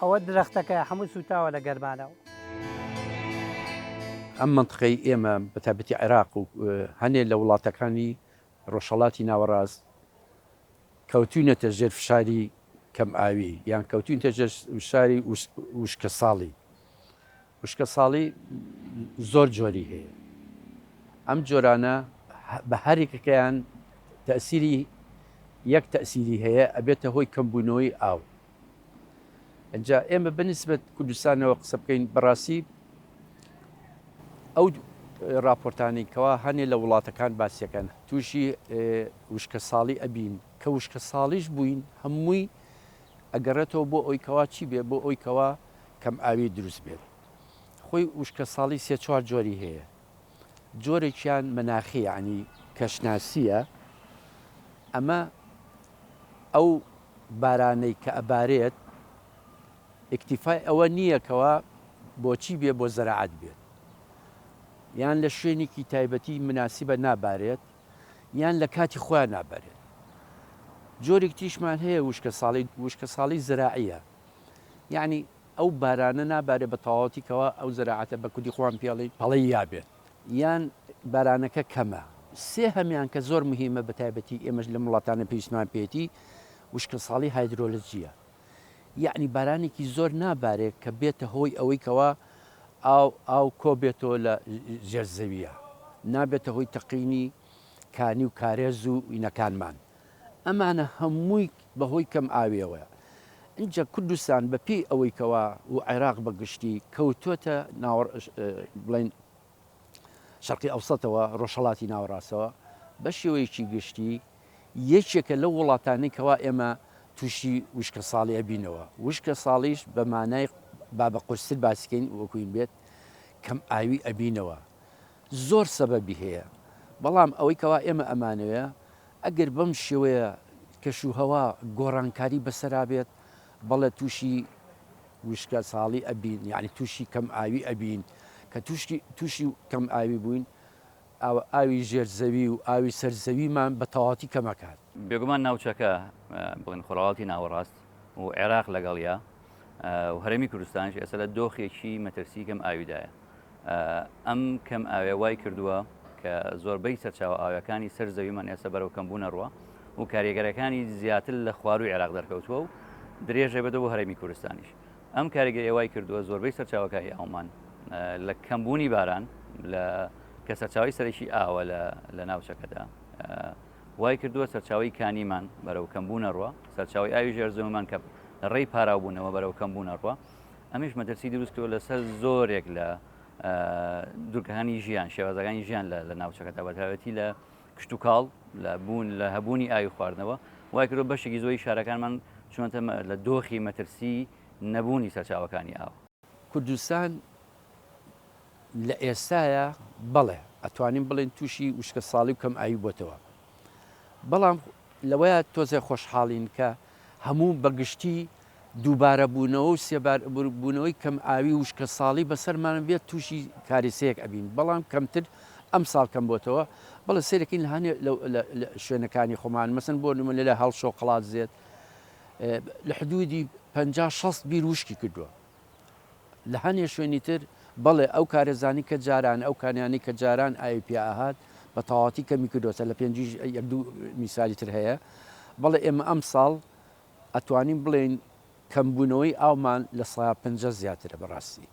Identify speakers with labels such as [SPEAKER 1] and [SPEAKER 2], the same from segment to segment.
[SPEAKER 1] ئەوە درەختەکەیە هەموو سووتاوە لە گەرمانەوە.
[SPEAKER 2] ئەم مەنتقەی ئێمە بە تایبەتی عێراق و هەنێ لە وڵاتەکانی ڕۆژهەڵاتی ناوەڕاست کەوتوینەتە ژێر فشاری کەم ئاوی یان کەوتوینتە ژێر فشاری وشکەساڵی. وشکە ساڵی زۆر جۆری هەیە ئەم جۆرانە بە هەریکەکەیان تەسیری یەک تەسیری هەیە ئەبێتە هۆی کەمبوونەوەی ئاو ئەجا ئێمە بنسبت کوردستانەوە قسە بکەین بەڕاستی ئەو راپۆرتانی کەوا هەنێ لە وڵاتەکان باسیەکەن تووشی وشکە ساڵی ئەبین کە وشکە ساڵیش بووین هەمووی ئەگەڕێتەوە بۆ ئەوی کەوا چی بێ بۆ ئەوی کەوا کەم ئاوی دروست بێت خۆی وشکە ساڵی سێ چوار جۆری هەیە جۆرێکیان مناخی یعنی کەشناسیە ئەمە ئەو بارانەی کە ئەبارێت ئیکتیفای ئەوە نییە کەەوە بۆچی بێ بۆ زەراعات بێت یان لە شوێنێکی تایبەتی مناسیبە نابارێت یان لە کاتی خۆیان نابارێت جۆرێک تیشمان هەیە وشکە ساڵی وشکە ساڵی زراعە یەعنی ئەو بارانە نابارێت بە تەواوەتی کەوا ئەو زەراعەتە بە کوردی خۆمان پێڵێین پەڵەی یا بێت یان بارانەکە کەمە سێ هەمیان کە زۆر مهیمە بە تایبەتی ئێمەش لەم وڵاتانە پێویستمان پێیەتی وشکە ساڵی هایدرۆلجیە یەعنی بارانێکی زۆر نابارێت کە بێتە هۆی ئەوەی کەوا ئاو ئاو کۆبێتەوە لە ژێر زەویە نابێتە هۆی تەقینی کانی و کارێز و وینەکانمان. ئەمانە هەمووی بەهۆی کەم ئاویەوەیە ئینجا کوردستان بەپێی ئەوەی کەوا و عێراق بەگشتی کەوتۆتە ناوە بڵین شەرقی ئەوسەتەوە ڕۆژهڵاتی ناوەڕاستەوە بە شێوەیەکی گشتی یەکێکە لەو وڵاتانی کەوا ئێمە تووشی وشکە ساڵی ئەبینەوە وشکە ساڵیش بە مانای بابە قورستر باسکەین وەکوین بێت کەم ئاوی ئەبینەوە زۆر سەبەبی هەیە، بەڵام ئەوەی کەوا ئێمە ئەمانەوێ ئەگەر بەم شێوەیە کەش و هەوا گۆڕانکاری بەسەرا بێت بەڵێ تووشی وشکە ساڵی ئەبین یعنی تووشی کەم ئاوی ئەبین کە تووشکی تووشی کەم ئاوی بووین ئاوی ژێر زەوی و ئاوی سەر زەویمان بە تەواتی کەمەکات. بێگومان ناوچەکە
[SPEAKER 3] بڵێن خۆرهەڵاتی ناوەڕاست و عێراق لەگەڵیا، و هەرێمی کوردستانش ئێستا لە دۆخێکی مەترسی کەم ئاویدایە ئەم کەم ئاوێ وای کردووە کە زۆربەی سەرچاو ئاوەکانی سەر زەویمان ئێستا بەرەو کەمبوونە ڕوە و کاریگەرەکانی زیاتر لە خواروی عێراق دەرکەوتووە و درێژە بەدە بۆ هەرێمی کوردستانیش ئەم کاریگە ئێوای کردووە زۆربەی سەرچاوەکانی ئەومان لە کەمبوونی باران لە کە سەرچاوی سەرەکی ئاوە لە ناوچەکەدا وای کردووە سەرچاوەی کانیمان بەرەو کەمبوون ئەڕوا، سەرچاوەی ئاوی ژێر زەویمان کە لە ڕێی پاراوبوونەوە بەرەو کەمبوون ئەڕوا، ئەمەیش مەترسی دروست کردووە لەسەر زۆرێک لە دوورگەکانی ژیان، شێوازەکانی ژیان لە ناوچەکەدا بەتایبەتی لە کشتوکاڵ، لە بوون، لە هەبوونی ئاوی خواردنەوە، وای کردووە بەشێکی زۆری شارەکانمان چوونەتە لە دۆخی مەترسی نەبوونی سەرچاوەکانی ئاو. کوردستان
[SPEAKER 2] لە ئێستایا بەڵێ ئەتوانین بڵێین تووشی وشکە ساڵی و کەم ئاوی بۆتەوە بەڵام لەوەیە تۆزێ خۆشحاڵین کە هەموو بەگشتی دووبارە بوونەوە و سێبار بوونەوەی کەم ئاوی وشکە ساڵی بەسەرمان بێت تووشی کاریسەیەک ئەبین بەڵام کەمتر ئەم ساڵ کەم بۆتەوە بەڵێ سێرەکەین هەنێ شوێنەکانی خۆمان مەسن بۆ نمونە لە هەڵشۆ قڵات زێت لە حدودی پ شەست بیر وشکی کردووە لە هەنێ شوێنی تر، بەڵێ، ئەو کارەزانی کە جاران، ئەو کانیانەی کە جاران ئاوی پیا ئەهات، بە تەواوەتی کەمی کردۆتە، لە پێنجیش یەک دوو میسالی تر هەیە. بەڵێ، ئێمە ئەمساڵ ئەتوانین بڵێین کەمبوونەوەی ئاومان لە سەا پەنجا زیاترە، بەڕاستی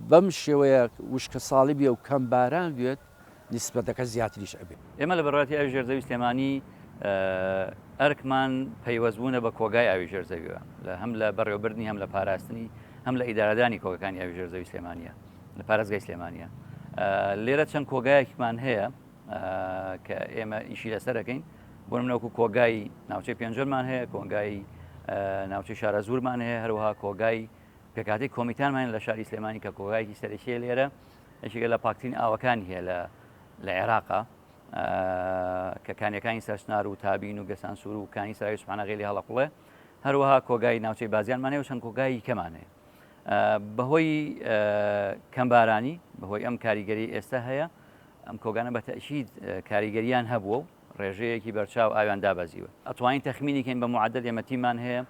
[SPEAKER 2] بەم شێوەیە وشکەساڵی بێ و کەم باران بێت،
[SPEAKER 3] نیسبەتەکە
[SPEAKER 2] زیاتریش ئەبێت. ئێمە
[SPEAKER 3] لە بەرواتی
[SPEAKER 2] ئاوی
[SPEAKER 3] ژێر زەوی
[SPEAKER 2] سلێمانی
[SPEAKER 3] ئەرکمان پەیوەست بوونە بە کۆگای ئاوی ژێر زەویوە لە هەم لە بەڕێوەبردنی هەم لە پاراستنی هەم لە ئیدارەدانی کۆگەکانی ئاوی ژێر زەوی سلێمانە لە پارێزگای سلێمانە لێرە چەند کۆگایەکمان هەیە کە ئێمە ئیشی لەسەرەکەین بۆ منەوەکو کۆگای ناوچەی پێنجەرمان هەیە کۆنگای ناوچەی شارە زورمان هەیە هەروها کۆگای پێکاتی کۆمیتانمان لە شاری سلێمانی کە کۆگایکی سەرەکیە لێرە یەکێکە لە پاکترین ئاوەکانی هەیە لە لە عێراقا کە کانیەکانی سەرچنار و تابین و گەسان سوور و کانی سای سوپانەغێلی هەڵقڵێ هەروەها کۆگای ناوچەی بازیانمانێ و چەند کۆگایی کەمانێ بەهۆی کەمبارانی بەهۆی ئەم کاریگەری ئێستا هەیە ئەم کۆگانە بە تەشید کاریگەریان هەبووە و ڕێژەیەکی بەرچاو ئاویان دابەزیوە ئەتوانین تەخمینیکەین بە معدل ئێمەتیمان هەیە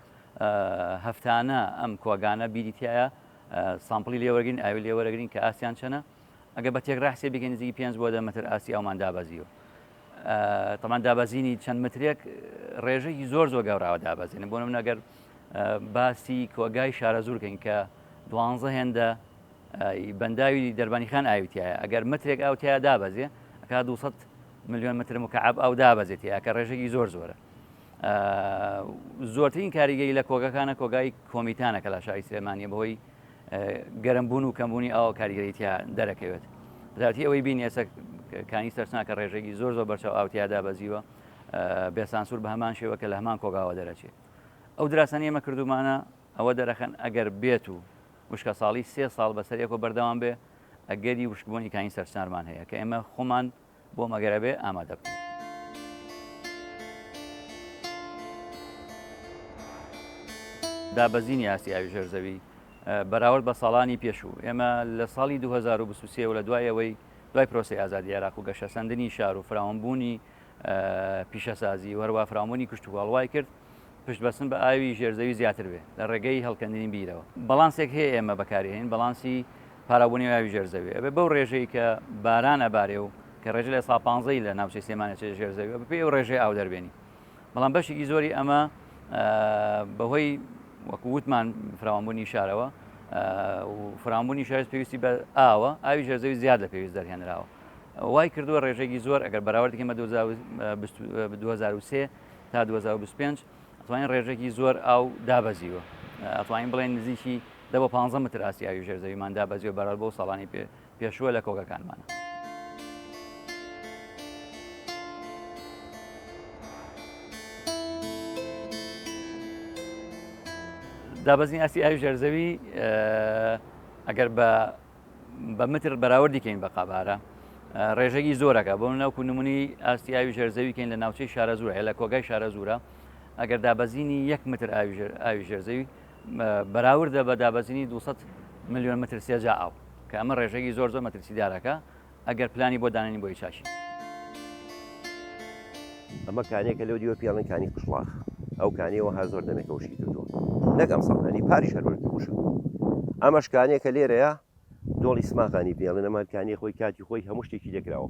[SPEAKER 3] هەفتانە ئەم کۆگانە بیریتایە سامپڵی لێ وەرگین ئاوی لێ وەرەگرین کە ئاسیان چەنە ئەگە بە تێک ڕاحسێ بگەین نزیکی پێنج بۆ دە متر ئاسی ئەومان دابەزیوە تەمان دابەزینی چەند مترێک ڕێژەی زۆر زۆر گەوراوە دابەزین بۆ من ئەگەر باسی کۆگای شارە زورکەین کە دوانزە هێندە بەنداوی دەربانی خان ئاویتیایە ئەگەر مترێک ئاوتیا دابەزێ ئەکا 200 میلیۆن متر مکعب ئەو دابەزێتی ئەکە ڕێژەی زۆر زۆرە زۆرترین کاریگەی لە کۆگەکانە کۆگای کۆمیتانە کە لە شاری سلێمانە بەهۆی گەرم بوون و کەمبوونی ئاو کاریگەریتیا دەرەکەوێت زیاتی ئەوەی بین ئێستا کانی سەرسناکە ڕێژێکی زۆر زۆر بەرچاو ئاوتیادا بەزیوە بێسانسور بە هەمان شێوە کە لە هەمان کۆگاوە دەرەچێت ئەو دراسانی ئێمە کردومانە ئەوە دەرەخەن ئەگەر بێت و وشکە ساڵی سێ ساڵ بەسەرەکۆ بەردەوام بێ ئەگەری وشکبوونی کانی سەرسنارمان هەیە کە ئێمە خۆمان بۆ مەگەر ئەبێ ئامادە بکەین. دابەزینی ئاستی ئاوی ژێر زەوی بەراورد بە ساڵانی پێشوو ئێمە لە ساڵی 2023 و لە دوای ئەوەی دوای پرۆسی ئازادی عێراق و گەشەسەندنی شار و فراوانبوونی پیشەسازی و هەروە فراوانبوونی کشتوکاڵ وای کرد پشتبەستن بە ئاوی ژێرزەوی زیاتر بێت لە ڕێگەی هەڵکەندنی بیرەوە بەڵانسێک هەیە ئێمە بەکارهێنین بەڵانسی پاراوبوونی ئاوی ژێرزەوی ئەبێ بەو ڕێژەی کە باران ئەبارێ و کە ڕێژە لە سا پانزەی لە ناوچەی سێمانە چێ ژێرزەوی بە پێی و ڕێژەی ئاو دەربێنی بەڵام بەشێکی زۆری ئەمە بەهۆی وەکووتمان فراوانبوونی شارەوە فرامبوونی شارز پێویستی بە ئاوە ئاوی ژێرزەوی زیاد لە پێویست دەرهێنراوە وای کردووە ڕێژێکی زۆر ئەگەر بەراوردکەمە 2023 تا 2025 ئەتوانین ڕێژێکی زۆر ئاو دابەزیوە ئەتوانین بڵێن نزیکی دە بە 15 متر ئاسیاوی ژێرزەویمان دابەزیوە بەرەل بۆ ساڵانی پێ پێشووە لە کۆگەکانمانە. دابەزین ئاستی ئاوی ژێرزەوی ئەگەر بە بە متر بەراوردی کەین بە قابارە ڕێژەگی زۆرەکە بۆ ناوکو نمونی ئاستی ئاوی ژێرزەوی کەین لە ناوچەی شارە زورە هەیە لە کۆگای شارە زورە ئەگەر دابەزینی یەک متر ئاوی ژێرزەوی بەراوردە بە دابەزینی 200 میلیۆن متر سێجا ئاو کە ئەمە ڕێژەگی زۆر زۆر مەترسیدارەکە ئەگەر پلانی بۆ دانانی بۆی چاکی.
[SPEAKER 4] ئەمە کانێکە لەو دیوە پێڵن کانی قشڵاخ ئەو کانیەوە هەر زۆر دەمێکە وشکی کردووە نەگەم سەڵنی پاریش هەربەر وش ئەمە شکانێکە لێرەیە دۆڵی سماغانی پێڵن ئەمە کانی خۆی کاتی خۆی هەموو شتێکی لێکراوە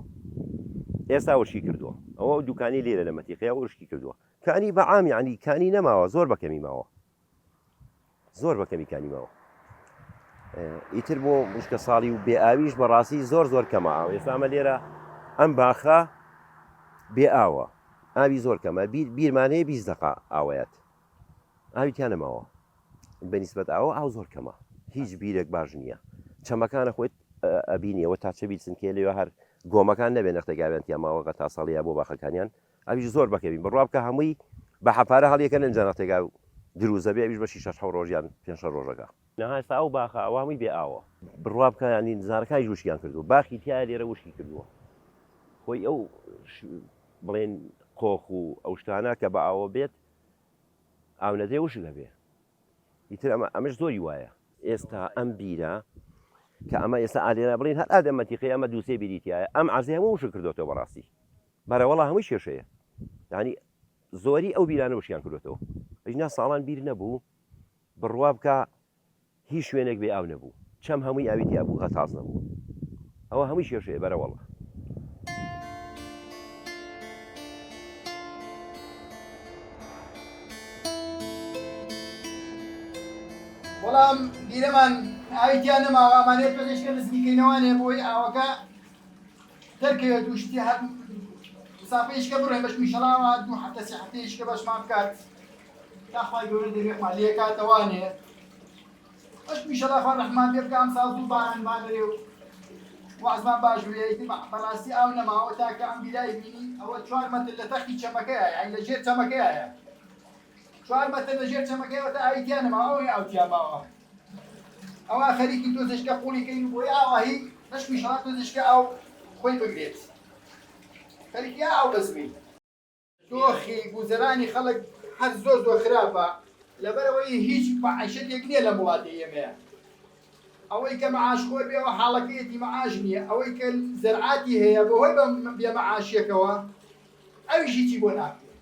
[SPEAKER 4] ئێستا وشکی کردووە ئەوە دوکانی لێرە لە مەتیقیا وشکی کردووە کانی بەعامی عنی کانی نەماوە زۆر بەکەمی ماوە زۆر بە کەمی کانی ماوە ئیتر بۆ مشکە ساڵی و بێ ئاویش بەڕاستی زۆر زۆر کەمە ئاو ئێسامە لێرە ئەم باخە بێ ئاوە ئاوی زۆر کەمە بیرمانەیە بی دقا ئاوەیەت ئاوی تیانەماوە بەنیسبەت ئاوە ئاو زۆر کەمە هیچ بیرێک باش نییە چەمەکانە خۆیت ئەبینیەوە تا چەبی سنکێ لێ هەر گۆمەکان نەبێ نەختێکاوێن تیاماوەگە تا ساڵەیە بۆ باخەکانیان ئەویش زۆر بەکەمی بڕوا بکە هەمووی بە حەپارە هەڵیەکەنن ئینجا نەختێکا دروزە بێ ئەویش بەشی شەش حەو ڕۆژ یان پێنج شەش ڕۆژەکە. نها ئێستا ئەو باخە ئەوە هەمووی بێ ئاوە. بڕوا بکە یانی زارەکانیش وشکیان کردووە باخی تیا لێرە وشکی کردووە خۆی ئەو بڵێن قۆخ و ئەو شتانە کە بە ئاوە بێت ئاو نەدرێ وشک هەبێ ئیتر ئەمە ئەمەش زۆری وایە. ئێستا ئەم بیرە کە ئەمە ئێستا ئالێرا بڵین هەر ئادەم مەتیقی ئەمە دووسێ بیری تایە ئەم عەرزەی هەموو وشک کردۆتەوە بەڕاستی. برا وەڵا هەمووی کێشەیە یانی زۆری ئەو بیرانە وشیان کردۆتەوە ئەینا ساڵان بیر نەبوو بڕوا بکە هیچ شوێنێک بێ ئاو نەبوو چەم هەمووی ئاوی تیا بوو غەتاز نەبوو ئەوە هەمووی کێشەیە بەرە وەڵا. وەڵام بیرەمان ئاوی تیا نەماوە ئەمانەیە پێشکە نزمیکەینەوانێ بۆی ئاوەکە
[SPEAKER 5] دەرکەوێت و شتی هەر مسافەیشکە بڕێ بەش میشەڵاوە دوو هەفتە سێ هەفتەیشکە بەشمان بکات داخوای گەورە دەرێخمان لێکاتەوانێ ئەش میشەڵا خوا ڕەحمان پێ بکە ئەمساڵ دوو باران بانرێ و وازمان باش بێت بەڕاستی ئاو نەماوە تاکە ئەم بیرای بینی ئەوە چوار مەتر لە تەختی چەمەکەیە یان لە ژێر چەمەکەیە چوار مەتر لە ژێر چەمەکەیەوە تا ئاوی تیا نەماوە ئەوەی ئاو تیا ماوە ئەوە خەریکی تۆزێشکە قوڵی کەین و بۆی ئاواهی نەشمیشەوە تۆزێشکە ئاو خۆی بگرێت خەریکی ئاو بەزمین دۆخی گوزەرانی خەڵک هەر زۆر زۆر خراپە لەبەرەوەی هیچ معیشەتێک نییە لە وڵاتی ئێمەیە ئەوەی کە معاش خۆر بێ و حاڵەکەیەتی معاش نییە ئەوەی کە زەرعاتی هەیە بەهۆی بە بێمەعاشیەکەوە ئەویشی چی بۆ ناکرێت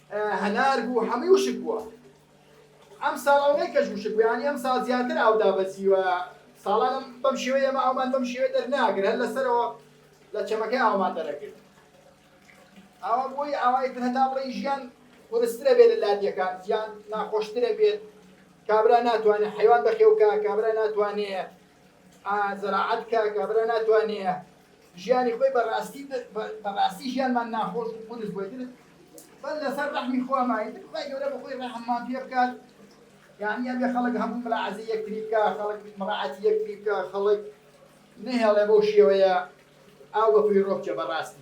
[SPEAKER 5] هەنار بوو هەمووی وشک بووە ئەم ساڵ ئەو نەی کەش وشک بوویانی ئەم ساڵ زیاتر ئاو دابەزیوە ساڵانم بەم شێوەیە ئەمە ئەومان بەم شێوە دەرناگر هەر لەسەرەوە لە چەمەکەی ئاومان دەرەکرد ئاوا بۆی ئاوای تر هەتا بڵێ ژیان قورسترە بێت لە لادیەکان ژیان ناخۆشترە بێت کابرا ناتوانێت حیوان بەخێوکە کابرا ناتوانێت ئا زەراعەت کا کابرا ناتوانێ ژیانی خۆی بە ڕاستی بە ڕاستی ژیانمان ناخۆش و قورس بۆی تر بەر لەسەر ڕەحمی خۆمانی تر خی گەورە بە خۆی ڕەحممان پێ بکات یعنی ئەبێ خەڵک هەموو مراعزی یەکتری بکە خەڵک مراعاتی یەکتری بکە خەڵک نەهێڵێ بەو شێوەیە ئاو بە فیڕۆ بچێ بەڕاستی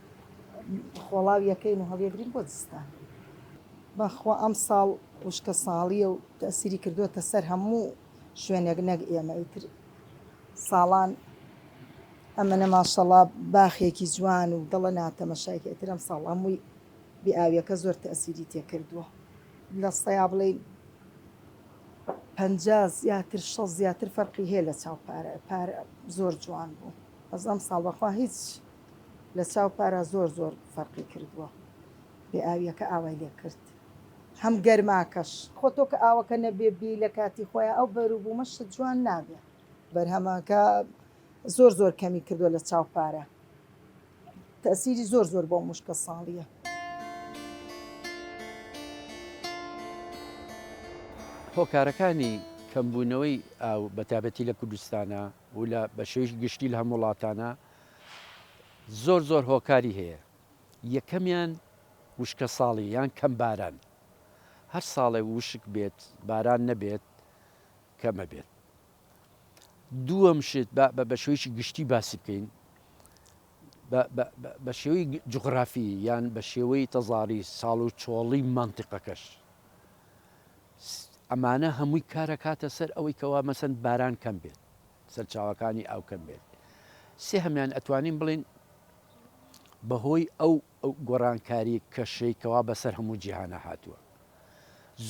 [SPEAKER 6] خۆڵاو یەکەین و هەڵیەگرین بۆ زستان. بەخوا ئەم ساڵ وشکە ساڵیە و تەئسیری کردۆتە سەر هەموو شوێنێک نەک ئێمە ئیتر ساڵان ئەمەە ماشەڵا باخێکی جوان و دڵە ناتەمەشایکە ئیتر ئەم ساڵ هەمووی بێ ئاویەکە زۆر تەئسیری تێکردووە لە سەیا بڵێ پ زیاتر شە زیاتر فەرقی هەیە لە چاو پارە پارە زۆر جوان بوو بەس ئەم ساڵ بەخوا هیچ لە چاو پارا زۆر زۆر فەرقی کردووە بێ ئاویەکە ئاوای لێ کرد هەم گەرماکەش. خۆ تۆ کە ئاوەکە نەبێ بی لە کاتی خۆیا ئەو بەروبومە شت جوان نابێ. بەرهەمەکە زۆر زۆر کەمی کردوە لە چاو پارا تەئسیری زۆر زۆر بەو مشکە ساڵیە.
[SPEAKER 2] هۆکارەکانی کەمبوونەوەی ئاو بەتایبەتی لە کوردستانا و لە بەشێوەیەکی گشتی لە هەموو وڵاتانا، زۆر زۆر هۆکاری هەیە یەکەمیان وشکە ساڵی یان کەم باران هەر ساڵێ وشک بێت باران نەبێت کەمە بێت دووەم شت بە شویشی گشتی باسی بکەین بە شێوەی جغرافی یان بە شێوەی تەزاری ساڵ و چۆڵی منتیقەکەش ئەمانە هەمووی کارەکاتە سەر ئەوەی کەوا مەسەن باران کەم بێت سەرچاوەکانی ئاو کەم بێت سێهەمیان ئەتوانین بڵین بەهۆی ئەو گۆڕانکاری کەشەی کەوا بەسەر هەموو جیهانە هاتووە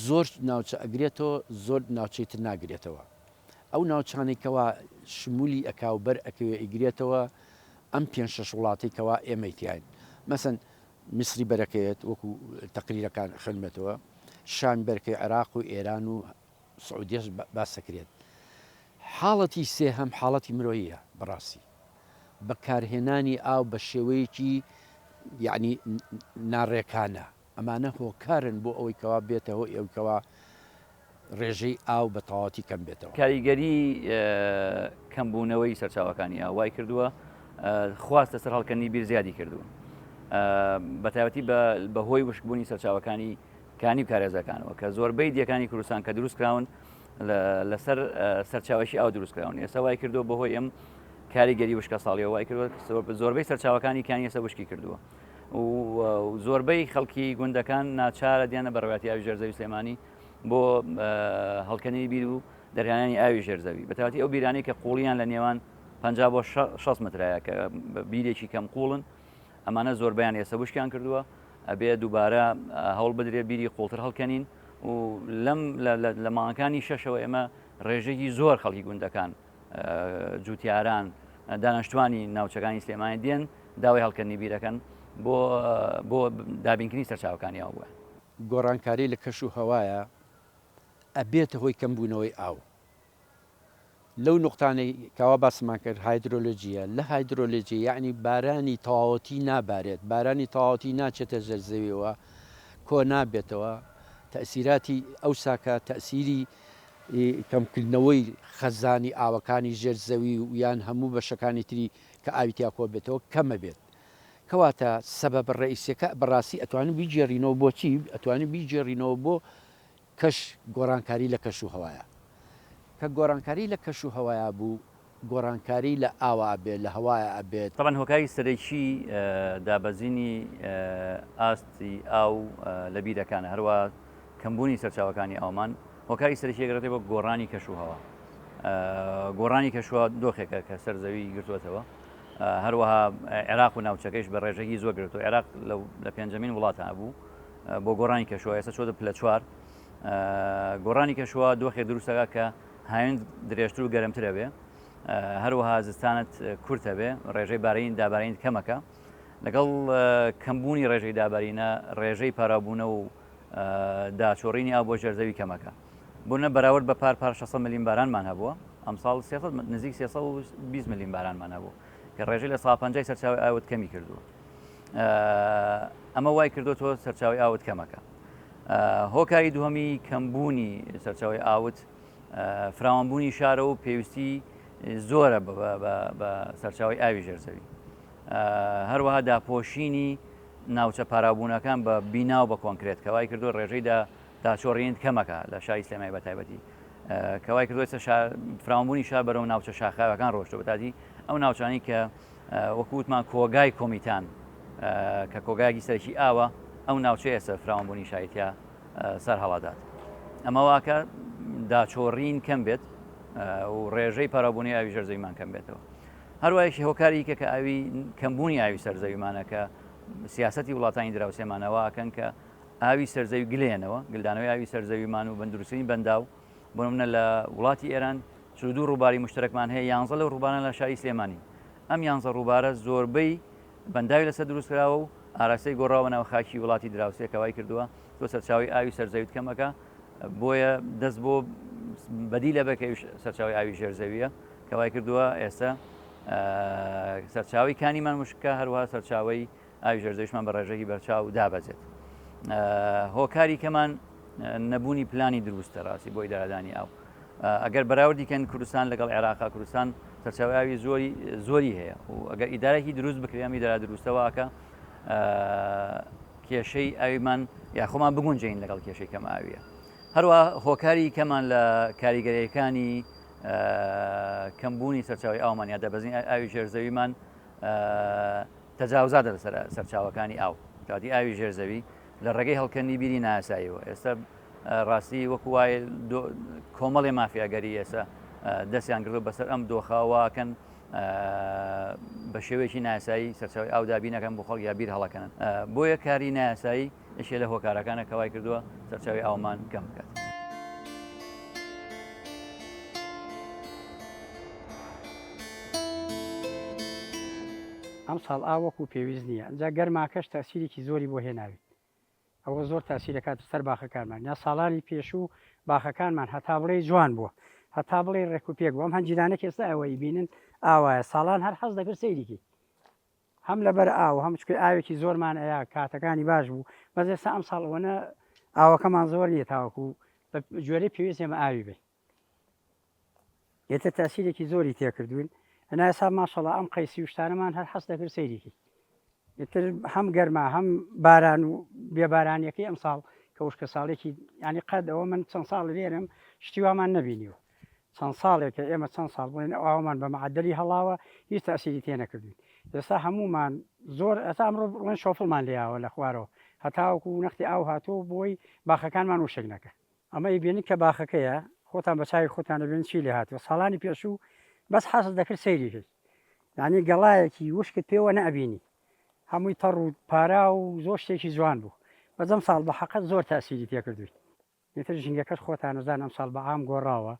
[SPEAKER 2] زۆر ناوچە ئەگرێتەوە زۆر ناوچەی تر ناگرێتەوە ئەو ناوچانی کەوا شمولی ئەک و بەر ئەکەوێ ئیگرێتەوە ئەم پێ شەش وڵاتی کەوا ئێمەی تیاین مەسن میسری بەرەکەوێت وەکو تەقریرەکان خوێنمێتەوە شان بەرکەی عێراق و ئێران و سعودیەش باس دەکرێت. حاڵەتی سێهەم حاڵەتی مرۆییە بەڕاستی بەکارهێنانی ئاو بە شێوەیەکی یعنی ناڕێکانە ئەمانە هۆکارن بۆ ئەوەی کەوا بێتە هۆی ئەوەی کەوا ڕێژەی ئاو بە تەواوەتی کەم بێتەوە. کاریگەری
[SPEAKER 3] کەمبوونەوەی سەرچاوەکانی ئاو وای کردووە خواست لەسەر هەڵکەندنی بیر زیادی کردوون بە تایبەتی بە هۆی وشکبوونی سەرچاوەکانی کانی و کارێزەکانەوە کە زۆربەی دیەکانی کوردستان کە دروست کراون لەسەر سەرچاوێکی ئاو دروست کراون ئێستا وای کردو بەهۆی ئەم کاریگەری وشکە ساڵیەوە وای کرد زۆربەی سەرچاوەکانی کانی ئێستا وشکی کردووە و زۆربەی خەڵکی گوندەکان ناچارە دیانە بەڕواتی ئاوی ژێرزەوی سلێمانی بۆ هەڵکەنی بیر و دەرهانی ئاوی ژێرزەوی بەتاتی ئەو بیرانی کە قوڵیان لە نێوان 50 بۆ 6 مترایە کە بیرێکی کەم قوڵن ئەمانە زۆربەیان ئێستا وشکیان کردووە ئەبێ دووبارە هەوڵ بدرێ بیری قوڵتر هەڵکەنین و لەم لە ماڵەکانی شەشەوە ئێمە ڕێژێکی زۆر خەڵکی گوندەکان جوتیاران دانیشتوانی ناوچەکانی سلێمانی دێن داوای هەڵکردنی بیرەکەن بۆ بۆ دابینکردنی سەرچاوەکانی ئەوە گۆڕانکاری لە
[SPEAKER 2] کەش و هەوایە ئەبێتە هۆی کەمبوونەوەی ئاو لەو نوقتانەی کەوا باسمان کرد هایدرۆلۆجییە، لە هایدرۆلۆجی یەعنی بارانی تەواوەتی نابارێت، بارانی تەواوەتی ناچێتە ژێر زەویەوە، کۆ نابێتەوە، تەئسیراتی ئەو ساکە تەئسیری کەمکردنەوەی خەزانی ئاوەکانی ژێر زەوی و یان هەموو بەشەکانی تری کە ئاوی تیا کۆ بێتەوە کەمە بێت. کەواتە سەبەبە ڕەئیسیەکە بەڕاستی ئەتوانین بیگێڕینەوە بۆچی؟ ئەتوانین بیگێڕینەوە بۆ کەش، گۆڕانکاری لە کەش و هەوایە. کە گۆڕانکاری لە کەش و هەوایە بوو، گۆڕانکاری لە ئاوە ئەبێت، لە هەوایە ئەبێت. تەبعەن هۆکاری سەرەکی
[SPEAKER 3] دابەزینی ئاستی ئاو لە بیرەکانە، هەروا کەمبوونی سەرچاوەکانی ئاومان هۆکاری سەرەکی ئەگرێتەوە بۆ گۆڕانی کەش و هەوا. گۆڕانی کەش و هەوا دۆخێکە کە سەر زەوی گرتووەتەوە، هەروەها عێراق و ناوچەکەیش بە ڕێژەکی زۆر گرتووە، عێراق لە پێنجەمین وڵاتە بوو، بۆ گۆڕانی کەشوە ئێستا چۆتە پلە چوار گۆڕانی کەشوە دۆخێ دروستەکە کە هاوێن درێژتر و گەرمترە بێ هەروەها زستانت کورتە بێ ڕێژەی بارین دابارین کەمەکە لەگەڵ کەمبوونی ڕێژەی دابارینە ڕێژەی پارابوونە و داچۆڕینی ئا بۆ ژێرزەوی کەمەکە بۆنە بەراورد بە پار پار 600 ملیم بارانمان هەبووە ئەمساڵ نزیک 320 ملیم بارانمان هەبوو کە ڕێژەی لە سا پنج سەرچاوی ئاوت کەمی کردووە ئەمە وای کردو تۆ سەرچاوی ئاوت کەمەکە هۆکاری دووەمی کەمبوونی سەرچاوی ئاوت فراوانبوونی شارە و پێویستی زۆرە بە سەرچاوی ئاوی ژێرزەوی هەروەها داپۆشینی ناوچە پارابوونەکان بە بینا و بە کۆنکرێت کەوای کردو ڕێژەیدا داچۆڕین کەمەکە لە شای سلێمای بە تایبەتی کەوای کردوێتە فراوانبوونی شار بەرەو ناوچە شاخاوەکان ڕۆشتە بەتادی ئەو ناوچانی کە وەکو وتمان کۆگای کۆمیتان کە کۆگایەکی سەرکی ئاوە ئەو ناوچەی ئێستا فراوانبوونی شایتیا سەر هەڵادات ئەمە واکە داچۆڕین کەم بێت و ڕێژەی پەرەبوونی ئاوی ژەر زەویمان کەم بێتەوە هەروایشی هۆکاری کە کە ئاوی کەمبوونی ئاوی سەر زەویمانەکە سیاستی وڵاتانی دراوسێمانەوە ئەکەن کە ئاوی سەرزەوی گلێنەوە گلدانەوەی ئاوی سەرزەویمان و بەندروستنی بەنداو بۆ نمونە لە وڵاتی ئێران چل و دوو ڕووباری مشترەکمان هەیە، یانزە لەو ڕووبارانە لە شاری سلێمانین. ئەم یانزە ڕووبارە زۆربەی بەنداوی لەسەر دروست کراوە و ئاراستەی گۆڕاوە بەناو خاکی وڵاتی دراوسێ کە وای کردووە تۆ سەرچاوەی ئاوی سەر زەویت کەم ئەکا، بۆیە دەست بۆ بەدیلە بە کە ئەویش سەرچاوی ئاوی ژێر زەویە کە وای کردووە ئێستا سەرچاوی کانیمان مشکە هەروها سەرچاوی ئاوی ژەرزەویشمان بە ڕێژەکی بەرچاو دابەزێت. هۆکاری کەمان نەبوونی پلانی دروستە ڕاستی بۆ ئیدارەدانی ئاو. ئەگەر بەراوردی کەن کوردستان لەگەڵ عێراقا کوردستان سەرچاویاوی زۆری زۆری هەیە و ئەگەر ئیدارێکی دروست بکرێمی دارا دروستەوەکە کێشەی ئاویمان یاخۆمان بگونجین لەگەڵ کێشەی کەم ئاویە هەروە هۆکاری کەمان لە کاریگەریەکانی کەمبوونی سەرچاوی ئاومان یا دەبەزین ئاوی ژێرزەویمان تەجاوزاتە لەسەر سەرچاوەکانی ئاو، کەواتەی ئاوی ژێر زەوی لە ڕێگەی هەڵکەندنی بیری نایاساییەوە ئێستا ڕاستی وەکو وایە کۆمەڵی مافیاگەری ئێستا دەستیان گرتوە بەسەر ئەم دۆخەواکەن بە شێوەیەکی ناسایی سەرچوی ئاودابینەکەم بۆ خەڵک یا بیر هەڵەکەن بۆیە کاری ناسایی یەکێ لە هۆکارەکانە کەوای کردووە سەرچاوی ئاومان کەم بکات.
[SPEAKER 7] ئەم ساڵ ئا وەکو پێویست نییە ئەجا گەرماکەش تاسیرێکی زۆری بۆ هێناویت ئەوە زۆر تاسیرەکات سەر باخەکانمان یا ساڵانی پێشوو باخەکانمان هەتا بڵێ جوان بووە هەتا بڵێ ڕێکوپێک بۆم هەنجیرانە کێستا ئەوەی بینن ئاوایە ساڵان هەر حەز دەکرد سەیریکی هەم لەبەر ئاو هەم چکە ئاوێکی زۆرمان ئەیا کاتەکانی باش بوو بەس ئێستا ئەم ساڵ وەنە ئاوەکەمان زۆر نیە تاوەکو بە جۆرەی پێویست ئێمە ئاوی بین ئێتە تاسیرێکی زۆری تێکردوین ئەناسا ماشەڵە ئەم قەیسی وشتانەمان هەر حەست دەکرد سەیرێکی ئتر هەم گەرما هەم باران و بێبارانیەکەی ئەم ساڵ کە وشکە ساڵێکی ینی قەدەوە من چەند ساڵ لێرم شتیوامان نبینیوە چەند ساڵێکە ئێمە چەند ساڵ بڵێن ئەو ئاوەمان بە معەدەلی هەڵاوە هیچ تەئسیری تێ نەکردوین ئێستا هەموومان زۆر ئەتا ئەمڕۆ بڵێن شۆفڵمان لێیاوە لە خوارەوە هەتاوەکو نەختی ئاو هاتووە بۆی باخەکانمان وشک نەکە ئەمە ئیبێنن کە باخەکەیە خۆتان بە چاوی خۆتان دەبێن چی لێ هاتووە ساڵانی پێشوو بەس حەست دەکرد سەیری کرد یعنی گەڵایەکی وشکت پێوە نەبینی هەمووی تەڕ و پارا و زۆر شتێکی جوان بوو بەزەم ساڵ بە حەقەت زۆر تاسیری تێکردوین ئیتر ژینگەکەش خۆتان ئەزان ئەمساڵ بە عام گۆڕاوە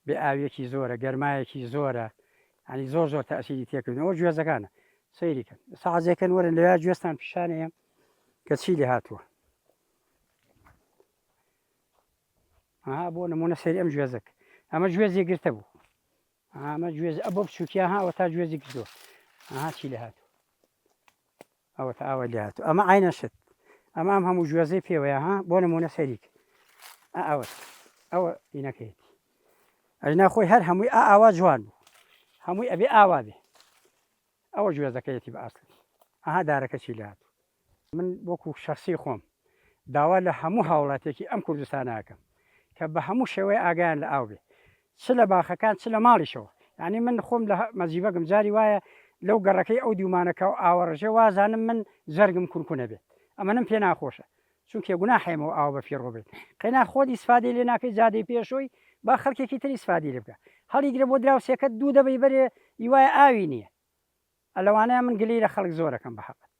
[SPEAKER 7] بێ ئاویەکی زۆرە گەرمایەکی زۆرە یانی زۆر زۆر تەئسیری تێکردن ئەوە گوێزەکانە سەیری کەن ئێستا عەزێ کەن وەرن لەوێ گوێستان پیشان ئەیەم کە چی لێ هاتووە ها بۆ نمونە سەیری ئەم گوێزەک ئەمە گوێزی گرتە بوو ئەمە گوێز ئە بۆ بچووکیان هاوە تا گوێزی گرتووە ئاها چی لێ هاتووە ئەوەتا ئاوای لێ هاتوو ئەمە عەینەن شت ئەمە ئەم هەموو گوێزەی پێوەیە ها بۆ نمونە سەریک ئەوە ئەوە ئینەکەیەتی ئەینا خۆی هەر هەمووی ئا ئاوا جوان بوو هەمووی ئەبێ ئاوا بێ ئەوە گوێزەکەیەتی بە ئاستی ئەها دارەکە چی لات من وەکو شخصی خۆم داوا لە هەموو هاوڵاتێکی ئەم کوردستانەکەم کە بە هەموو شێوەیە ئاگیان لە ئاو بێ چ لە باخەکان چ لە ماڵیشەوە یانی من خۆم لە مەزیبەگم جاری وایە لەو گەڕەکەی ئەو دوومانەکە و ئاوە ڕژێ وازانم من جەرگم کونکونە بێت ئەمەنم پێ ناخۆشە چونکێ گوناحێمەوە ئاوە بە فیڕۆ بێت قەینا خۆت ئیسفادەی لێ ناکەی جادەی پێشۆی با خەڵکێکی تری سفادی لێ بکە هەڵیگرە بۆ دراوسێکە دوو دەبەی بەرێ یوای ئاوی نییە ئەلەوانەیە من گلی لە خەڵک زۆرەکەم بە حەقت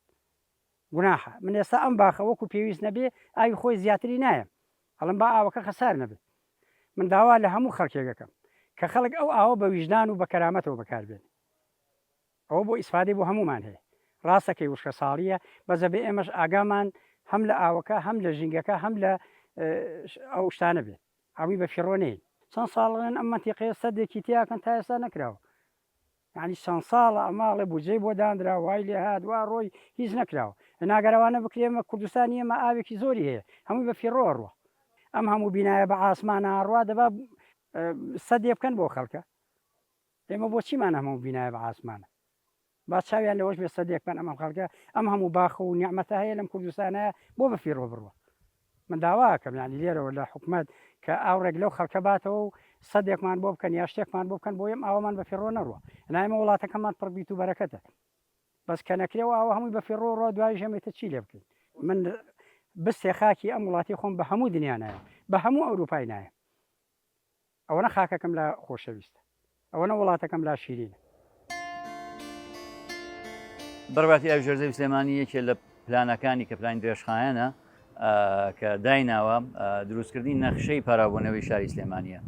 [SPEAKER 7] گوناحە من ئێستا ئەم باخە وەکو پێویست نەبێ ئاوی خۆی زیاتری نایەم ئەڵێم با ئاوەکە خەسار نەبێ من داوا لە هەموو خەڵکێک ئەکەم کە خەڵک ئەو ئاوە بە ویژدان و بە کەرامەتەوە بەکار بێنێ ئەوە بۆ ئیسفادەی بۆ هەموومان هەیە ڕاستەکەی وشکە ساڵیە بەزە بێ ئێمەش ئاگامان هەم لە ئاوەکە هەم لە ژینگەکە هەم لە ئەو شتانە بێت ئاوی بە فیڕۆنەی چەند ساڵڵێن ئەم مەتیقەیە سەدێکی تیاکەن تا ئێستا نەکراوە یانی چەند ساڵە ئەم ماڵە بودجەی بۆ دانرا وای لێ هات وا ڕۆی هیچ نەکراوە ئەناگە رەوانە بکرێ مە کوردستانی ئێمە ئاوێکی زۆری هەیە هەمووی بە فیڕۆ ئەڕوا ئەم هەموو بینایە بە عاسمان ئاڕوا دەبا سەدێ بکەن بۆ خەڵکە ئێمە بۆ چیمان هەموو بینایە بە عاسمانە با چاویان لەوەش بێ سەدێک بن ئەم خەڵکە ئەم هەموو باخە و نیعمەتە هەیە لەم کوردستانە بۆ بە فیڕۆ بڕوە من داوا ئەکەم یانی لێرەوە لە حکومەت کە ئاوڕێک لەو خەڵکە باتەوە و سەدێکمان بۆ بکەن یا شتێکمان بۆ بکەن بۆ یەم ئاوامان بە فیڕۆ نەڕوە ئەنا ئێمە وڵاتەکەمان پڕ بیت و بەرەکەتە بەس کە نەکرێ و ئاوە هەمووی بە فیڕۆ ڕۆ دوای ژەمێتە چی لێ بکەین من بستێ خاکی ئەم وڵاتی خۆم بە هەموو دنیا نایە بە هەموو ئەوروپای نایە ئەوەنە خاکەکەم لا خۆشەویستە. ئەوەنە وڵاتەکەم لا شیرینە.
[SPEAKER 3] بڕباتی ئاوی ژێرزەوی سلێمانی یەکێ لە پلانەکانی کە پلانی درێژخایەنە کە دایناوە دروستکردنی نەخشەی پاراوبوونەوەی شاری سلێمانە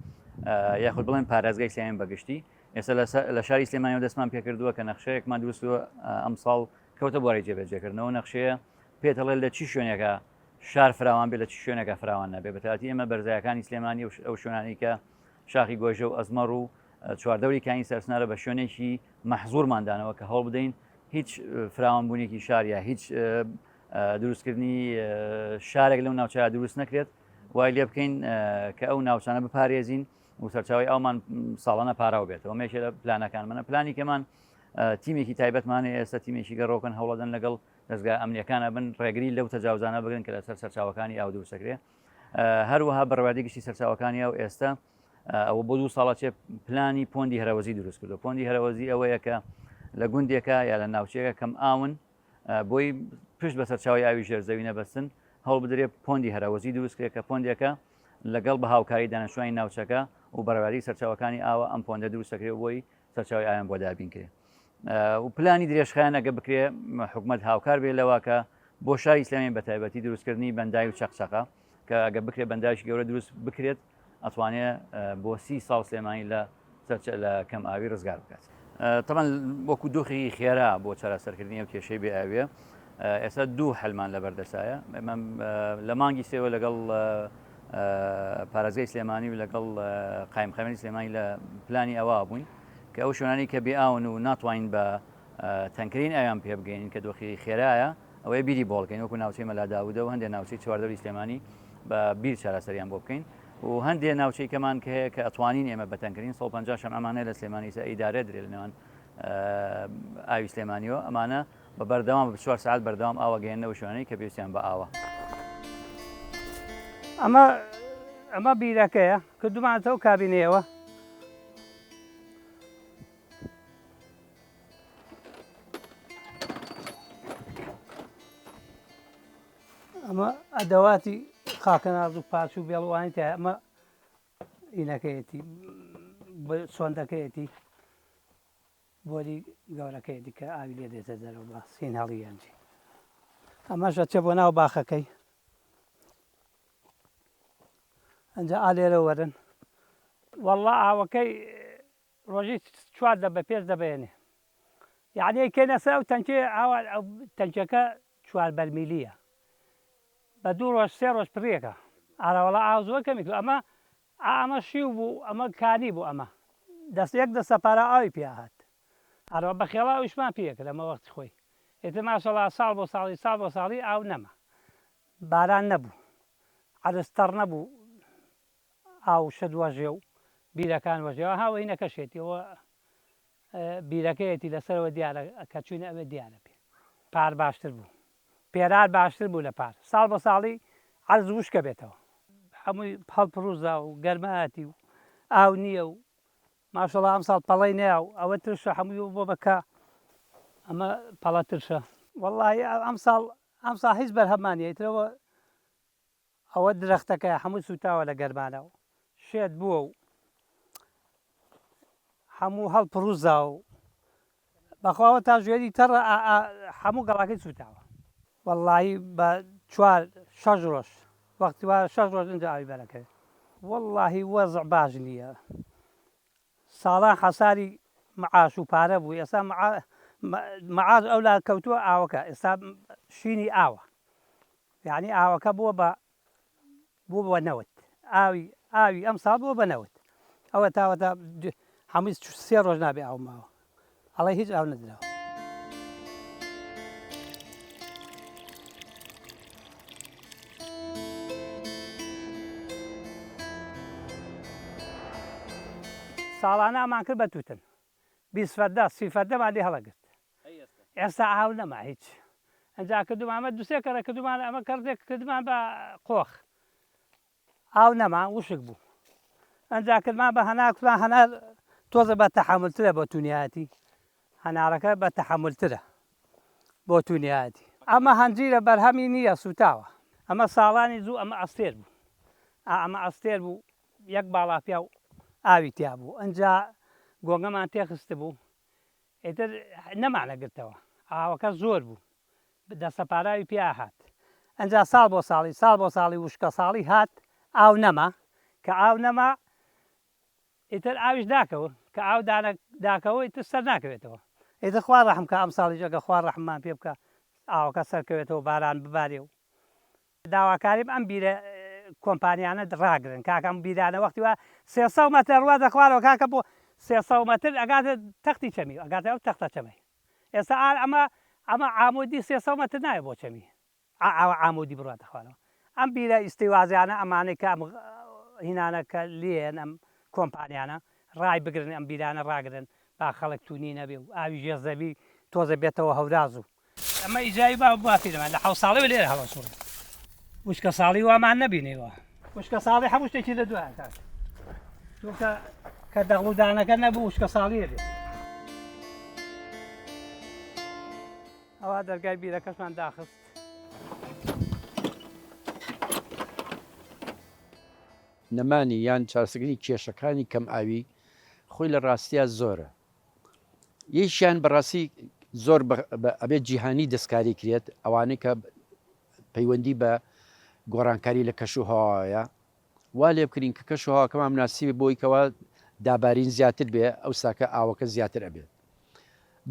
[SPEAKER 3] یاخود بڵێن پارێزگای سلێمانی بەگشتی ئێستا لە شاری سلێمانی دەستمان پێکردووە کە نەخشەیەکمان دروستوە ئەمساڵ کەوتە بۆی جێبەجێکردنەوە نەخشەیە پێتەڵێ لە چی شوێنێکە شار فراوان بێ لە چ شوێنەکە فراوان نەبێ بەتاتی ئێمە بەرزایەکانی سلێمانی ئەو شوێنانی کە شاخی گۆژە و ئەزمەڕ و چواردەوری کاین سەرسنارە بە شوێنێکی مەحزورماندانەوە کە هەڵ بدەین هیچ فراوانبوونێکی شارە هیچ دروستکردنی شارێک لەو ناوچە دروست نەکرێت وای لێ بکەین کە ئەو ناوچانە بپارێزین و سەرچاوی ئەومان ساڵانە پاراو بێتەوە مێشێ لە پلانەکان منە پلانی کەمان تیمێکی تایبەتمانە ئێستا تیمێکی گەڕۆکن هەوڵەدەن لەگەڵ دەزگا ئەمنیەکان ئەبن ڕێگری لەو تەجاوزانە بگرن کە لەسەر سەرچاوەکانی ئاو دووسەکرێ هەروەها بەڕوادی گشتی سەرچاوەکانی ئەو ئێستا ئەوە بۆ دوو ساڵە چێ پلانی پۆندی هەرەوەزی دروست کردو پۆندی هەرەوەزی ئەوەیە کە لە گوندێکە یا لە ناوچەیەەکە کەم ئاون بۆی پشت بە سەرچاوی ئاوی ژێرزەوی نەبەستن هەڵ بدرێ پۆندی هەرەوەزی دروستکرێت کە پۆندێکە لەگەڵ بە هاوکاری دانیشتوانی ناوچەکە و بەڕواری سەرچاوەکانی ئاوە ئەم پۆندە دروستەکرێ بۆی سەرچاوی ئاویان بۆ دابین کرێ و پلانی درێژخانەگە بکرێ حکومت هاوکار بێ لەواکە بۆ شاری ئسلامی بە تایبەتی دروستکردنی بەندای و چەقچەقە کە ئەگە بکرێ بەنداش گەورە دروست بکرێت ئەتوانێ بۆ سی ساڵ سلێمانی لە سەرچە لە کەم ئاوی ڕزگار بکات تەمان وەکو دۆخی خێرا بۆ چارەسەرکردنی و کێشەی بێ ئاوێ ئێستا دوو حەلمان لەبەر دەسایە ئێمە لە مانگی سێوە لەگەڵ پارێزگای سلێمانی و لەگەڵ قایمخەمەری سلێمانی لە پلانی ئەوە بووین کە ئەو شوێنانی کە بێئاون و ناتوانین بە تەنکرین ئەویان پێ بگەین کە دۆخی خێرایە ئەوەی بیری بۆڵکەین وەکو ناوچەی مەلاداودە و هەندێک ناوچەی چواردەوری سلێمانی بە بیر چارەسەریان بۆ بکەین و هەندێک ناوچەی کەمان کە هەیە کە ئەتوانین ئێمە بەتەنگرین 150 شەم ئەمانە لە سلێمانی سە ئیدارە درێ لە نێوان ئاوی سلێمانیەوە ئەمانە بە بەردەوام بە چوار سەعات بەردەوام ئاوە گەیەننە و شوێنەی کە پێویستیان بە ئاوە.
[SPEAKER 1] ئەمە ئەمە بیرەکەیە کردمانەتەوە کابینەیەوە. ئەمە ئەدەواتی خاکەناز و پاچ و بێڵوانی تا ئەمە ئینەکەیەتی سۆندەکەیەتی بۆری گەورەکەی دیکە ئاوی لێ دێتە دەرەوە بە سین هەڵی یەنجی ئەمەش ئەچێ بۆ ناو باخەکەی ئەجا ئا لێرە وەرن والله ئاوەکەی ڕۆژی چوار دە بە پێش دەبێنێ یعنی کێنە سەر ئەو تەنکێ ئاوا ئەو تەنکەکە چوار بەرمیلیە بە دوو ڕۆژ سێ ڕۆژ پرێکە ئاراوەڵا ئاو زۆر کەمی ئەمە ئا ئەمە شیو بوو ئەمە کانی بوو ئەمە دەست یەک دەستە پارا ئاوی پیا هات ئەرا بە خێڵا ئەویشمان پیا کرد ئەمە وەختی خۆی ئیتر ماشەڵا ساڵ بۆ ساڵی ساڵ بۆ ساڵی ئاو نەما باران نەبوو عەرز تەڕ نەبوو ئاو شت وەژێ و بیرەکان وەژێ ئەها وەینەکەشێتی ئەوە بیرەکەیەتی لەسەرەوە دیارە کە چووینە ئەوێ دیارە پێ پار باشتر بوو. پێرار باشتر بوو لە پار. ساڵ بە ساڵی عەرز وشک ئەبێتەوە. هەمووی هەڵپڕوزا و گەرمایەتی و ئاو نییە و ماشەڵا ئەمساڵ پەڵەی نەیا و ئەوە ترشە هەمووی ببووە بە کا ئەمە پەڵە ترشە. وەڵاهی ئەمساڵ ئەمساڵ هیچ بەرهەممان نییە ئیتر ئەوە ئەوە درەختەکە هەموو سووتاوە لە گەرمانا و شێت بووە و هەموو هەڵپڕووزا و بەخوا ئەوە تاژوێری تەڕە هەموو گەڵاکەی سووتاوە. وەڵڵاهی بە چوار شەش ڕۆژ وەختی وا شەش ڕۆژ ئینجا ئاوی بەرەکەوێ. وەڵڵاهی وەزع باش نییە. ساڵان حەساری معاش و پارە بوو ئێستا معاش ئەو لا کەوتووە ئاوەکە ئێستا شینی ئاوە یعنی ئاوەکە بووە بە بوو بە نەوت ئاوی ئاوی ئەم ساڵ بووە بە نەوت ئەوە تاوەتا هەمووی سێ ڕۆژ نابێ ئاو ماوە ئەڵێ هیچ ئاو نەدراوە. ساڵانە ئەمان کرد بە توتن بیست فەردە سی فەردەمان لێ هەڵەگرت ئێستا ئاو نەما هیچ ئەنجا کردومانمە دوسێ کەڕێ کردومان ئەمە کەڕێک کردمان بە قۆخ ئاو نەما وشک بوو ئەنجا کردمان بە هەنار کوتمان هەنار تۆزە بە تەحملترە بۆ تونیایەتی هەنارەکە بە تەحملترە بۆ تونیایەتی ئەمە هەنجیرە بەرهەمی نییە سوتاوە ئەمە ساڵانی زوو ئەمە ئەستێر بوو ئەمە ئەستێر بوو یەک باڵا پیاو ئاوی تیا بوو ئەجا گۆگەمان تێخست بوو ئیتر نەمانەگرتەوە، ئاوەکە زۆر بوو، دەستەپاراوی پیا هات، ئنجا ساڵ بۆ ساڵی، ساڵ بۆ ساڵی وشکەساڵی هات، ئاو نەما، کە ئاو نەما، ئیتر ئاویش داکەوت، کە ئاو داکەوت، ئیتر سەر ناکەوێتەوە، ئیتر خوا ڕەحم کا، ئەمساڵیش ئەگەر خوا ڕەحممان پێ بکا، ئاوەکە سەرکەوێتەوە، باران ببارێ و داواکاریم ئەم بیرە کۆمپانیانە ڕاگرن کاکە ئەم بیرانە وەختی وا سێ سەو مەترە ڕوادە خوارەوە کاکە بۆ سێ سەو مەتر ئەگاتە تەختی چەمی ئەگاتە ئەو تەختە چەمەی ئێستا ئار ئەمە ئەمە عامودی سێ سەو مەتر نایە بۆ چەمی ئاوا عامودی بڕواتە خوارەوە ئەم بیرە ئیستیوازیانە ئەمانەی کە ئەم هینانە کە لێن ئەم کۆمپانیانە ڕای بگرن ئەم بیرانە ڕاگرن با خەڵک تونی نەبێ و ئاوی ژێر زەوی تۆزێ بێتەوە هەورازو ئەمە ئیجای با بافی لەمان لە حەوت ساڵی لێرە هەڵەسوڕ وشکە ساڵی وامان نەبینیوە وشکە ساڵی هەموو شتێکی لە دوای کات چونکە کە دەغڵودانەکە نەبوو وشکە ساڵیە بێت ئەوە دەرگای بیرەکەشمان داخست
[SPEAKER 2] نەمانی یان چارسگری کێشەکانی کەم ئاوی خۆی لە ڕاستیا زۆرە یەکیان بەڕاستی زۆر ئەبێت جیهانی دەستکاری کرێت ئەوانەی کە پەیوەندی بە گۆڕانکاری لە کەش و هەواوەیە وا لێ بکرین کە کەش و هاکەمان مناسیبێ بۆیکەوە دابارین زیاتر بێ ئەو ساکە ئاوەکە زیاتر ئەبێت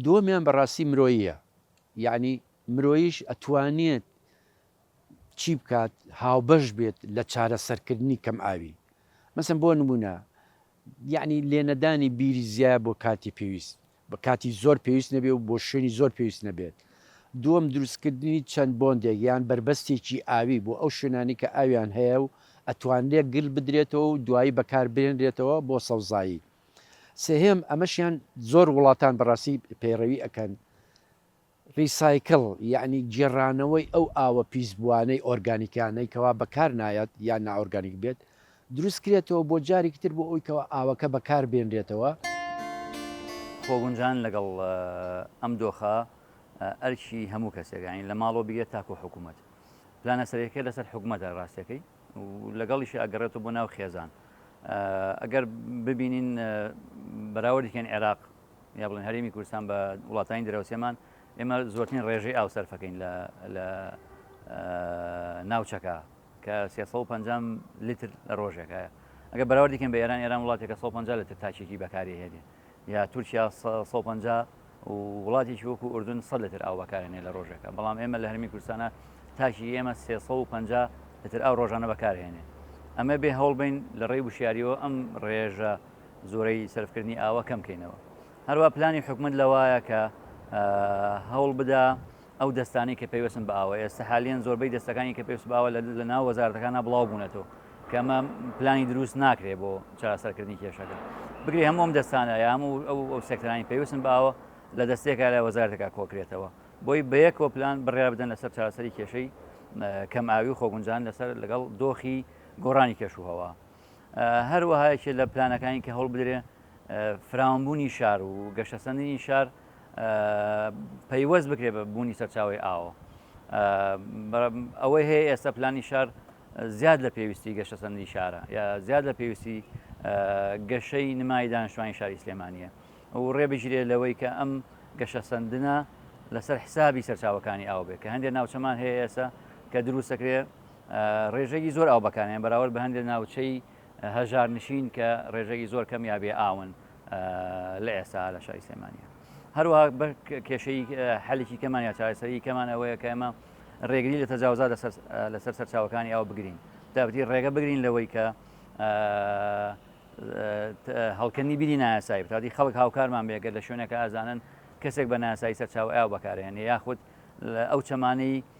[SPEAKER 2] دووەمیان بەڕاستی مرۆیە یعنی مرۆیش ئەتوانێت چی بکات هاوبەش بێت لە چارەسەرکردنی کەم ئاوی مەسم بۆ نمونە یەعنی لێنەدانی بیری زیایە بۆ کاتی پێویست، بە کاتی زۆر پێویست نەبێ و بۆ شوێنی زۆر پێویست نەبێت. دووەم، دروستکردنی چەند بۆندێک یان بەربەستێکی ئاوی بۆ ئەو شوێنانەی کە ئاویان هەیە و ئەتوانرێت گل بدرێتەوە و دوایی بەکار بهێنرێتەوە بۆ سەوزایی. سێهەم، ئەمەشیان زۆر وڵاتان بەڕاستی پەیڕەوی ئەکەن، ریسایکل یەعنی گێڕانەوەی ئەو ئاوە پیسبووانەی ئۆرگانیکانەی کەوا بەکار نایەت یان نائۆرگانیک بێت دروست کرێتەوە بۆ جاریکی تر بۆ ئەوی کەوا ئاوەکە بەکار بێنرێتەوە. خۆگونجان
[SPEAKER 3] لەگەڵ ئەم دۆخە ئەرکی هەموو کەسێکە یەعنی لە ماڵەوە بگرە تاکوو حکوومەت. پلانە سەرەکیەکە لەسەر حکوومەتە راستەکەی و لەگەڵیشی ئەگەڕێتەوە بۆ ناو خێزان. ئەگەر ببینین بەراوردێکیان عێراق یا بڵێن هەرێمی کوردستان بە وڵاتانی دراوسێمان ئێمە زۆرترین ڕێژەی ئاو سەرفەکەین لە ناوچەکە کە 350 لیتر لە ڕۆژێکە ئەگە بەراوردیکەن بە ئێران ئێران وڵاتێکە 150 لە تاچێکی بەکاری هێنێ یا تورکیا 150 وڵاتێکی وەکو ئوردن سە لەتر ئاو بەکارێنێ لە ڕۆژێکە بەڵام ئێمە لە هەرمی کوردستانە تاکی ئێمە 350 لەتر ئاو ڕۆژانە بەکارهێنێ ئەمە بێ هەوڵ بین لە ڕێی وشیاریەوە ئەم ڕێژە زۆرەی سەرفکردنی ئاوە کەم کەینەوە هەروە پلانی حکومت لەوایە کە هەوڵ بدا ئەو دەستانی کە پێوەسن بە ئاوە ئێستا حالیان زۆربەی دەستەکانی کە پێوس باوە لە ناو وەزارەکانە بڵاو بوونەتەوە کەمە پلانی دروست ناکرێ بۆ چارەسەرکردنی کێشەکە بگری هەموم دەستانە یام و ئەو ئەو سێکتەرانی پێویستن باوە لە دەستێکە لە وەزارەکە کۆکرێتەوە بۆی بەیە کۆپلان بڕیا بدەن لەسەر چارەسەری کێشەی کەم ئاوی و خۆگونجان لەسەر لەگەڵ دۆخی گۆڕانی کێشوهەوە هەروەها یەکێ لە پلانەکانی کە هەوڵبدرێ فراوانبوونی شار و گەشەسەندنی شار پەیوەست بکرێ بە بوونی سەرچاوی ئاوە ئەوەی هەیە ئێستا پلانی شار زیاد لە پێویستی گەشەسەندی شارە یا زیاد لە پێویستی گەشەی نمای دانیشتوانی شاری سلێمانە و ڕێبگیرێ لەوەی کە ئەم گەشەسەندنە لەسەر حسابی سەرچاوەکانی ئاو بێت کە هەندێک ناوچەمان هەیە ئێستا کە دروستەکرێ ڕێژەی زۆر ئاو بەکارهێنان بەراورد بە هەندێک ناوچەی هەژارنشین کە ڕێژەی زۆر کەم یا بێ ئاون لە ئێستا لە شاری سلێمانیە هەروە بە کێشەی حەلێکی کەمان یا چارەسەری کەمان ئەوەیە کە ئەمە ڕێگری لە تەجاوزا لەسەر سەرچاوەکانی ئاو بگرین دابتی ڕێگە بگرین لەوەی کە هەڵکەنی بیری نایاسایی بتادی خەڵک هاوکارمان بێگەر لە شوێنەکە ئازانن کەسێک بە ناسایی سەرچاو ئاو بەکارێنێ یاخود ئەو چەمانەی